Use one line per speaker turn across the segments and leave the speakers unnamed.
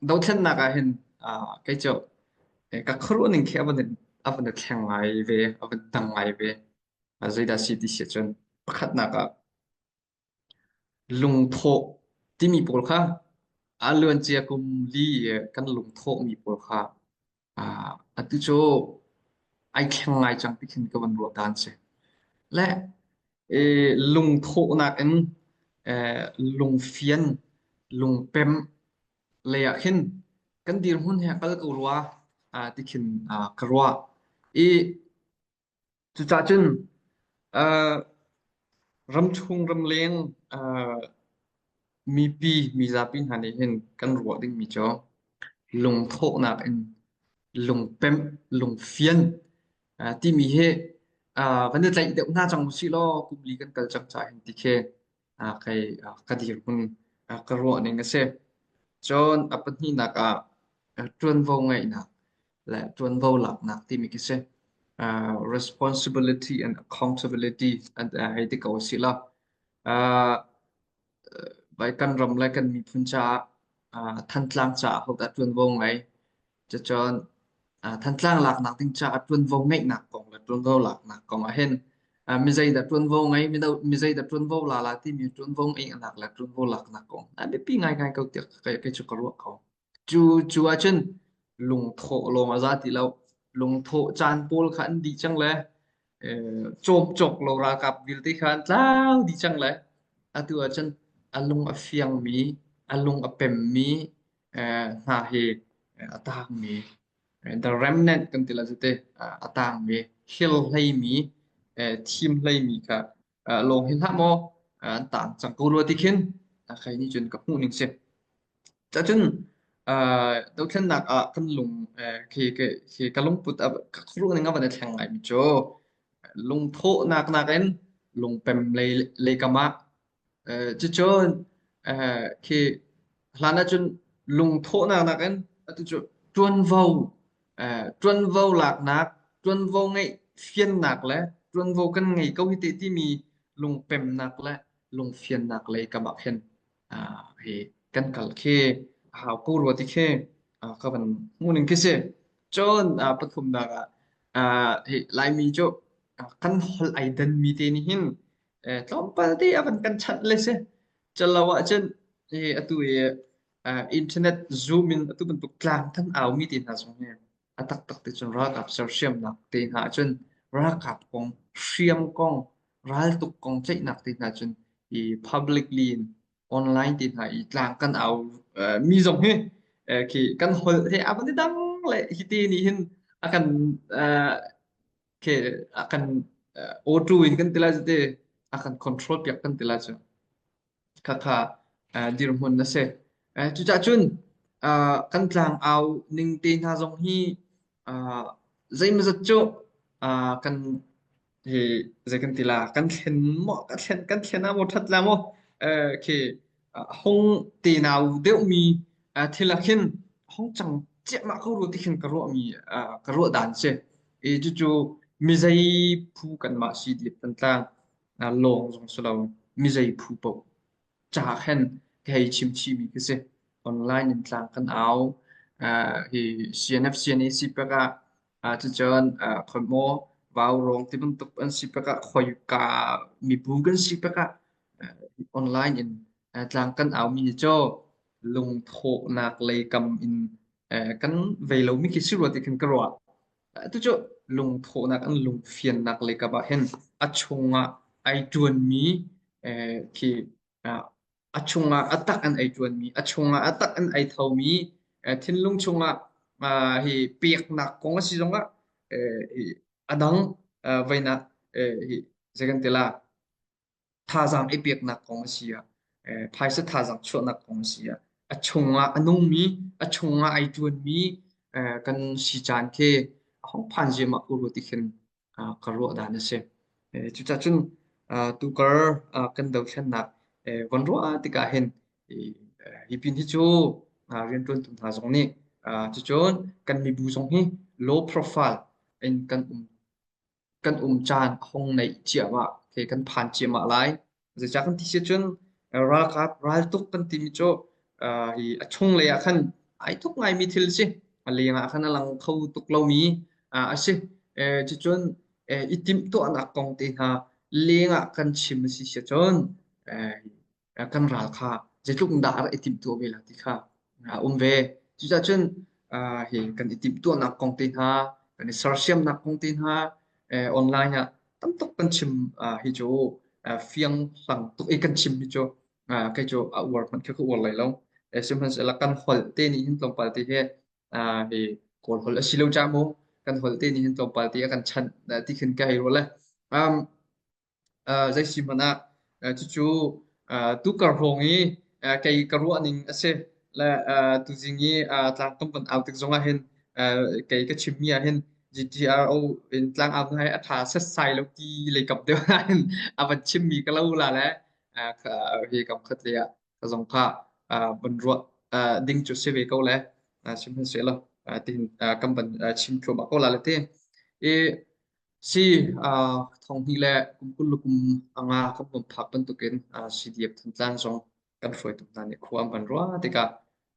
Dothlennak ah hin ah kei cu eh, ka khuaruah ning khi a van in a van i thleng ngai ve, a van dang ngai ve. Ah, zeidah a si ti si cun pakhatnak ah lungthawh timi pawl kha a luancia kum li i kan lungthawhmi pawl kha Ah, atu cu ai thleng ngai cang ti khin ka van ruah ta an si. Le eh, lungthawhnak in eh, lungfian, lungpem lei ah khin kan dirhmun he kal ko rua ah ti khin ah ka ruah. I Cucah cun aa ramchung ramleng aa mipi mizapi hna nih hin kan ruah dingmi cu lungthawhnak in lungpemh, lungfian aa timi hi aa van i tlaih deuh hna cang usih law kum li kan kal cang ca hin ti khi Ah, kai, ah, ka dirhmun ah, ka ruahning a si. Cun a pahnihnak ah ah, ṭuanvo ngeihnak le ṭuanvo laknak timi khi si. Ah, responsibility and accountability an ah, ei ti ko a si la. Ah, bai kan ram le kan miphun caah ah, Thantlang caah hodah ṭuanvo ngai Cacun Thantlang laknak ding caah ṭuanvo ngeihnak kong le ṭuanvo laknak kong ahhin mizei dah ṭuanvo ngei mizei dah ṭuanvo la la timi ṭuanvo ngeihnak le ṭuanvo laknak kong a biapi ngaingai ko tiah kei cu ka ruah ko. Cu cu ahcun lungthawh lawng a za ti lo. Lungthawh caan pawl kha an dih cang le cawp cawk lo ralkap vialte kha an tlau dih cang lai. Atu ah cun a lung a fiangmi, a lung a pemmi eh, hna hi eh, a tangmi eh, the remnant kan ti la cu te a tangmi, hil hleimi, eh, thim hleimi kha uh, lawng hin hlah maw uh, tan cang ko rua ti khin uh, khai ni cun ka hmuh ning si ta cun uh, dothlennak ah kan lung uh, khi ke khi ka lungput a ka khru ning avan thleng ngai mi cho lungtho nak nak in lungpem le le kama uh, chi chon uh, khi hlan ah cun lungthawhnak nakin atu cu ṭuanvo eh, ṭuanvo laknak ṭuanvo ngeih fiannak le ṭuanvo kan ngei ko hi te timi lungpemnak le lungfiannak lei kamah khin ah, hi kan kal khi a hau ko rua ti khi ah, ka van hmuning khi si cun ah, pathumnak ah ah, hi laimi cu ah, kan hol ai danmi te nih hin Eh, tlawmpal te a van kan chanh le si. Calo ahcun hi atu hi uh, internet zoom in atu bantuk tlang than au mi te hna zong hi a tak tak te cun ralkap sersiamnak te hna ahcun ralkap kong hriam kong raltuk kong tlaihnak te hna cun i publicly in online te hna i tlang kan au uh, mi zong hi uh, khi kan hol he a van i dang le hi te ni hin a kan uh, ke a kan auto hi kan tila jate a kan control piak kan tila chu khakha dirhmun na se cuca cun kan tlang au ning te hna zong hi zeimazat cu kan hi zei kan tila kan thlen mo kan thlen kan thlen a mo that la mo ke hong te nau deuhmi thil ah khin hong cang ciahmah ko rua ti khin ka ruahmi ka ruah dan si i cucu mizei phu kanmah si diet kan tlang lawng zong si lo mizei phu paoh ca khen ka hei chimchimi ka si online in tlang kan au hi CNF CNAC pek ah Ahcun khoi maw vaurawng ti bantuk an si tikah khoika mibu kan si tikah online in tlang kan aumi ni cu lungthawhnak lei kam in kan vei lomi khi si rua ti khan ka ruah. Tucu lungthawhnak an lungfiannak lei kap ah hin a chungah ai ṭuanmi khi a chungah a tak an ei ṭuanmi, a chungah a tak an ei thomi, eh, thinlung chungah ah, hi peknak kong a si zongah eh, hi a dang eh, veinak eh, hi zeikan tila thazaang i peknak kong a si ah, eh, phaisa thazaang chuahnak kong a si ah, a chungah a nungmi, a chungah ai ṭuanmi eh, kan si caan khi a hong phan ziahmah uru ti khin ah ka ruah dan a si. Eh, cucacun ah, tukar ah, kan dothlennak eh, von ruah tikah hin i, eh, hi pin hi cu ah, rianṭuantu hna zong nih ah, cucun kan mibu zong hi low profile in kan um kan um caan a hong neih cia ma, okay, kan phan cia ma lai. Zeicah kan ti si cun ralkap raltuk kan timi cu hi a chunglei ah khan ai tuk ngaimi thil a si. A leng ah khan a lang kho tuk lomi a si. Cucun i timhtuahnak kong te hna leng ah kan chim a si si cun kan ral kha zeitluk in dah i timhtuah ve lai ti kha a um ve. Cucaah cun ah, hi kan i timhtuahnak kong te hna, kan i sersiamnak kong te hna eh, online ah tam tuk kan chim ah, hi cu ah, fiang lang tuk i kan chim hi cu ah, kei cu a uar hmanh khi ka uar lai lo. Eh, sihmanhsehlaw kan holh te nih hin tlawmpal te hi ah, hi kawl holh a si lo ca mu. Kan holh te nih hin tlawmpal te a kan chanh ah, ti khin ka hei rul e. Um, uh, zeisi hmanh ah uh, cucu uh, tukar hrawng i uh, kei ka ruah ning a si le uh, tuzing i uh, tlang kam pan au tik zongah hin uh, kei ka chimmi ah hin GTRO in tlang au ngai a tha set sai lo ti lei kap deuh ah hin a van chimmi ka lo la le uh, ka hi kam khat le ah ka zong kha uh, ban ruah uh, ding cu si ve ko le uh, sihmanhsehlaw uh, tihin uh, kan ban uh, chim thluam ko la le te i Si, uh, thonghni le kum kul le kum anga kan bawm phak bantuk in uh, CDF thantlan zong kan hruai tuk hna nih khua an van rua tikah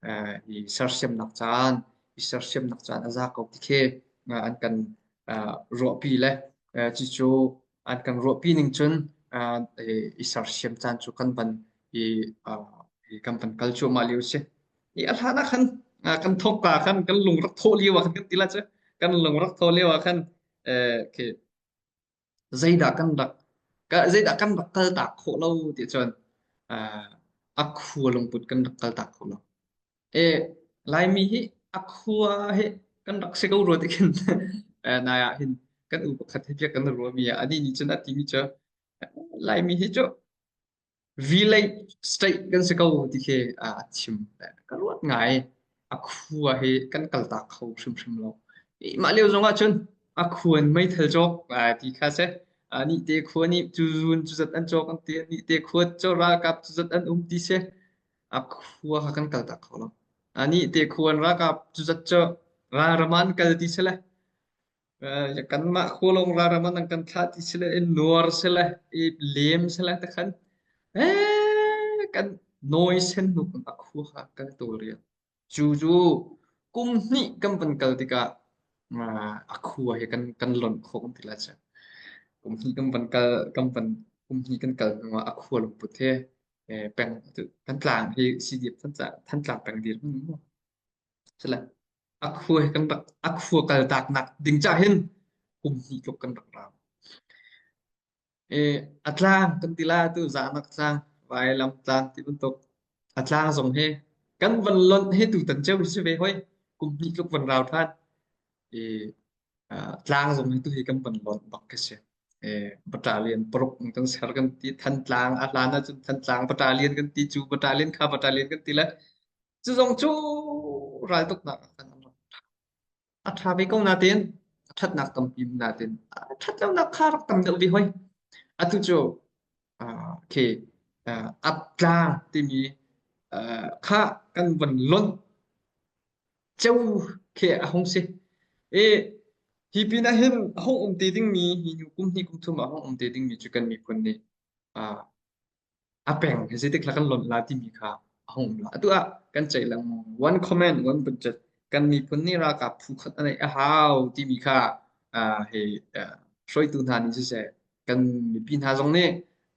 uh, i sersiamnak caan i sersiamnak caan a za ko tikhe uh, an kan uh, ruahpi le uh, chi cu an kan ruahpi ning cun uh, i sersiam caan cu kan van i uh, i kan van kal cuahmah lio si I a hlan ah khan ah, kan thawk ka khan kan lungrak thaw lio ah khan kan tila cu kan lungrak thaw lio ah khan eh, okay, zeidah kan rak ka zeidah kan rak kal tak khawh lo ti cun ah, a khua lungput kan rak kal tak khawh lo e laimi hi a khua he kan rak si ko rua ti khin eh, nai ah hin kan u pakhat hi pia kan rua mi a ani ni cun a ti mi cu laimi hi cu V-Link state kan si ko ti khi a thim. Ka luat ngai. A khua hi kan kaltak kho hrimhrim lo. Mah lio zong ahcun a khuan meithal cawk ti kha si. Ni te khua nih cu zun cu zat an cawk an ti. Ni te khua cu ralkap cu zat an um ti si. A khua kha kan kaltak kho lo. Ni te khua ralkap cu zat cu ralram an kal ti si le. Ya kanmah khulong raram an kan thlah ti sile i luar sile i lem sile takhan eh kan nawi sen nu kan khu ha kan tu rian cu cu kum hnih kan van kal tikah a khu hi kan kan lon kho kan ti la cha kum hnih kan van kal kan van kum hnih kan kal hnuah a khu lung put he peng kan tlang hi si diep than tlang peng dir mu sile A khua he kan rak a khua kaltak nak ding cah hin kum hnih tluk kan rak ra. E, a tlang kan tila tu zahnak tlang vailam tlang ti bantuk a tlang zong he kan van lonh he tu tan cheu si ve hoi kum hnih tluk van rau than e, uh, tlang zong he tu hi kan van lonh bak ke si e, bata lian paruk kan ser kan ti than tlang a hlan ahcun than tlang bata lian kan ti chu bata lian kha bata lian kan ti le Cu zong cu raltuknak ah kan um. A ṭha ve ko natein, a ṭhatnak tampi natein, a ṭhat lonak kha rak tam deuh ve hoi. Atu cu, ah, okay, ah, aptlang timi, ah, kha kan von lonh ceu khi a hung si. I hi pin ah hin a hung um te dingmi, hi nu kum hnih kum thum ah a hung um te dingmi cu kan miphun nih, ah, a peng zeitik hla kan lonh la timi kha a hung um la atu ah kan ceih lengmang one comment one budget kan miphun nih ralkap phu khat a neih a hau timi kha uh, he uh, hruaitu hna nih siseh kan mipi hna zong nih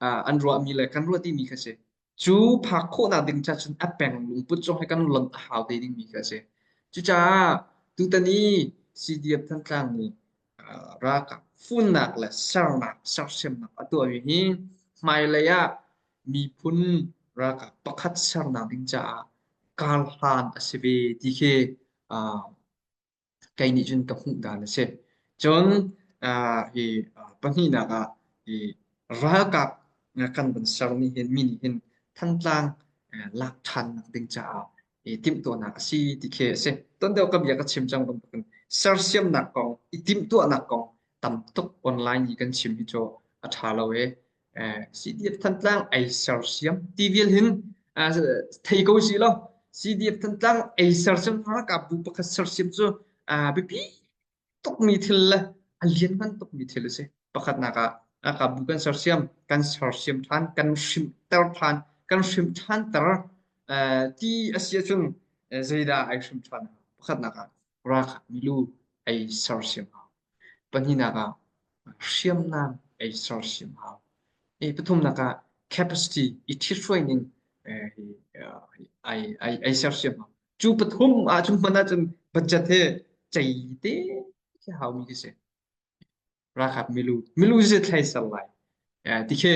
uh, an ruahmi le kan ruah timi kha si cu phak khawhnak ding cha cun a peng lungput zong he kan lonh a hau te dingmi kha si cucaah tutani CDF Thantlang nih ralkap funnak le sernak sersiamnak a tuahmi hi hmailei ah miphun ralkap pakhat sernak ding caah karhlan a si ve ti khi uh, kei nih cun ka hmuh dan a si cun uh, hi uh, pahnihnak ah hi ralkap kan van sermi hin mi nih hin thantlang lak ṭhannak ding caah i timhtuahnak a si ti khi a si. Ton deuh ka bia ka chim cang bantukin sersiamnak kong, i timhtuahnak kong tam tuk online i kan chim hi cu a ṭha lo e. Eh, CDF Thantlang ei sersiam ti vial hin ah, thei ko si lo. CDF Thantlang ei sersiam ralkap bu pakhat sersiam cu ah, biapi tukmi thil le a lianngan tukmi thil a si. Pakhatnak ah a kabu kan sersiam, kan sersiam ṭhan, kan hrimter ṭhan, kan hrimh ṭhanter uh, ti a si ahcun uh, zeidah ai hrim ṭhan. Pakhatnak ah rak milu ai sersiam hau. Pahnihnak ah hriamnam ai sersiam hau. E, pathumnak ah capacity i thithruai ning ai ai ai sersiam hau. Cu pathum ahcun hman ahcun budget hi cei te khi haumi khi si. Ralkap milu milu si thlai ser lai. Eh, ti khi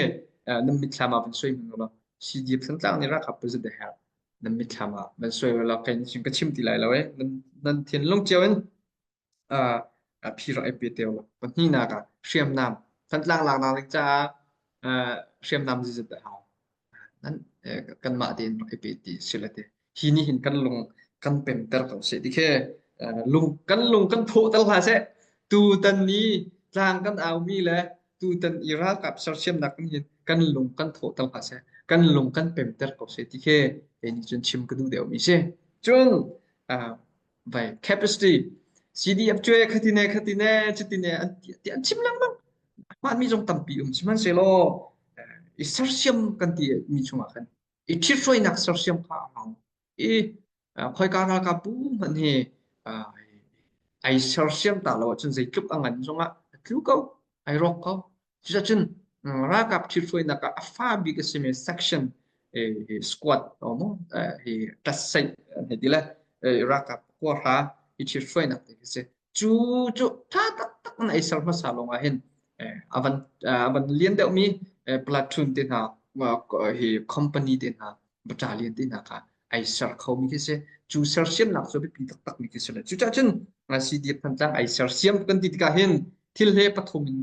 eh, nan mitthlam ah van soi hman lo CDF santlang nih ralkap budget a herh nan mitthlam ah van soi lo kai ning ka chim ti lai lo eh nan nan thin lung ciao in uh, phi rak ai pe te pahnihnak ah hriamnam kan tlak lak nak like caah uh, hriamnam zizat a hau nan kan mah tein rak ai pe ti sila te hi ni hin kan lung kan pem ter ko se dikhe lung kan lung kan pho tal hla se tu tan ni tlang kan au mi le tu tan i ral kap sar siam nak kan hin kan lung kan tho tal hla se kan lung kan pem ter ko se dikhe ni chun chim kadu deu mi se chun vai capacity CDF cuai khatine khatine chatine an ti an chim lengmang hman mi zong tampi um sihmanhsehlaw i sersiam kan ti mi chungah kan i ṭhithruainak sersiam kha a hau i khoika ralkap bu hman hi ai sersiam ta lo ahcun zeitluk a ngan zongah tlu ko ai rawk ko Cucacun ralkap ṭhithruainak ah a fa bik a simi section squad maw hi tlatsaih an hei ti le ralkap kuahra hi ṭhithruainak te khi a si. Cu cu ṭha taktak in ei ser hmasa lawng ahhin a van a van lian deuhmi platoon te hna hi company te hna baṭa lian tenak ah ai ser khomi khi si. Cu sersiamnak cu a biapi taktakmi khi si le. Cucah cun CDF Thantlang ai sersiam kan ti tikah hin thil he pathum in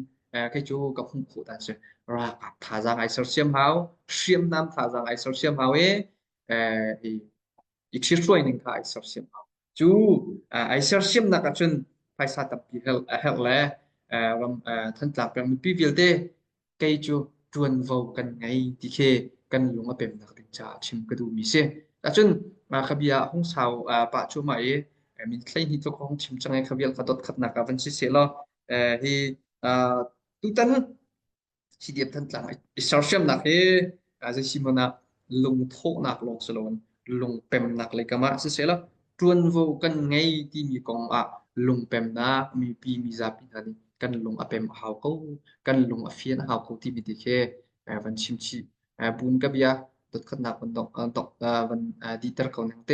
kei cu ka hung khawh ta si. Ralkap thazaang ai sersiam hau, hriamnam thazaang ai sersiam hau i i thirhruai ning kha ai sersiam hau. Cu ai sersiamnak ahcun phaisa tampi herh, a herh le ram Thantlang peng mipi vialte kei cu ṭuanvo kan ngei ti khi kan lung a pemnak ding caah chim ka duhmi si. Ahcun kha bia hung sau pah cuahmah i min hleihnih tluk hong chim cang i kha vial ka dot khatnak ah van si seh law hi tutan Hi diam Thantlang i sersiamnak hi zei si hmanh ah lungthawhnak lawng si loin lungpemnak lei kam ah sisehla ṭuanvo kan ngei timi kong ah lungpemnak mipi mizapi hna nih kan lung a pem a hau ko, kan lung a fian a hau ko timi ti khi eh, van chim chih. Eh, bun ka bia dotkhatnak van dong, eh, dong, eh, van eh, diter ko nang te.